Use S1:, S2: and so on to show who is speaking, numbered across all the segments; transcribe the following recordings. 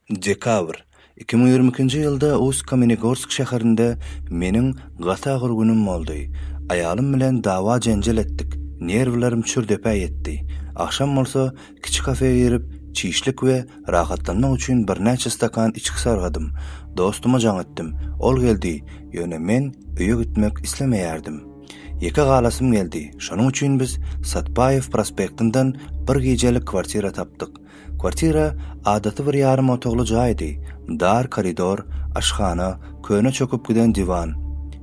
S1: Dekabr, iki müň ýigrimi ikinji ýylda Ust-Kamenegorsk şäherinde meniň gaty agyr günüm boldy. Aýalym bilen dawa-jenjel etdik, nerwlerim çür-depä ýetdi. Agşam bolsa, kiçi kafeýa girip, çişlik we rahatlanmak üçin birnäçe stakan içgi sargadym. Dostuma jaň etdim. Ol geldi, ýöne men öýe gitmek islemeýärdim. Ýeke galasym geldi, şonuň üçin biz Satpaýew prospektinden bir gijelik kwartira tapdyk. Kwartira adaty bir ýarym otagly jaýdy, dar koridor, aşhana, köne çöküp giden diwan.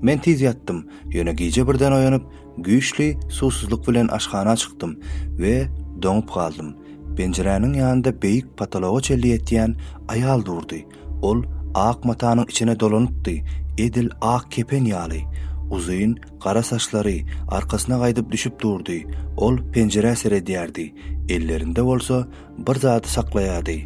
S1: Men tiz ýatdym, ýöne gije birden oýanyp, güýçli suwsuzlyk bilen aşhana çykdym we doňup galdym. Penjiräniň ýanynda beýik potologa çenli ýetýän aýal durdy. Ol ak matanyň içine dolanypdy, edil ak kepen ýaly. Uzyn, gara saçlary arkasyna gaýdyp düşüp durdy. Ol penjirä seredýärdi, ellerinde bolsa bir zady saklaýardy.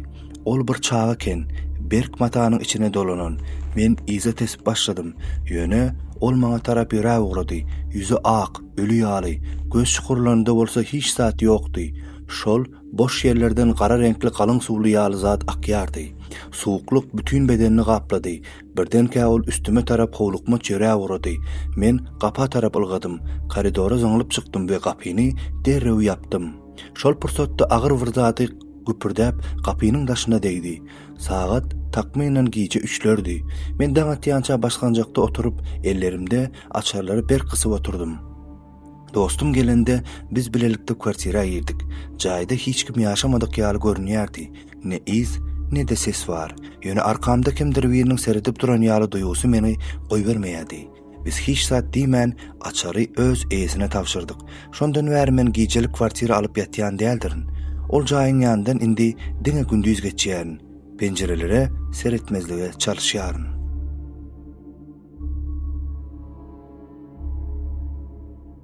S1: Ol bir çaga eken, berk matanyň içine dolanan. Men yza tesip başladym. Ýöne ol maňa tarap ýöräp ugrady. Ýüzi ak, öli ýaly, göz çukurlarynda bolsa hiç zat ýokdy. Şol Boş ýerlerden gara reňkli galyň suwly ýaly zat akýardy. Suwuklyk bütin bedenini gaplady. Birdenkä ol üstüme tarap howlukmaç ýöräp ugrady. Men gapa tarap ylgadym. Koridora zyňlyp çykdym we gapyny derrew ýapdym. Şol pursatda agyr bir zady güpürdäp gapynyň daşyna degdi. Sagat, takmynan, gije üçlerdi. Men daň atýança basgançakda oturyp, ellerimde açarlary berk gysyp oturdym. Dostum gelende, biz bilelikde kwartira girdik. Jaýda hiç kim ýaşamadyk ýaly görünýärdi. Ne yz, ne-de ses bar. Ýöne arkamda kimdir biriniň seredip duran ýaly duýgusy meni goýbermeýärdi. Biz hiç zat diýmän, açary öz eýesine tabşyrdyk. Şondan bäri men gijelik kwartira alyp ýatýan däldirin. Ol jaýyň ýanyndan indi diňe gündiz geçýärin. Penjirelere seretmezlige çalyşýaryn.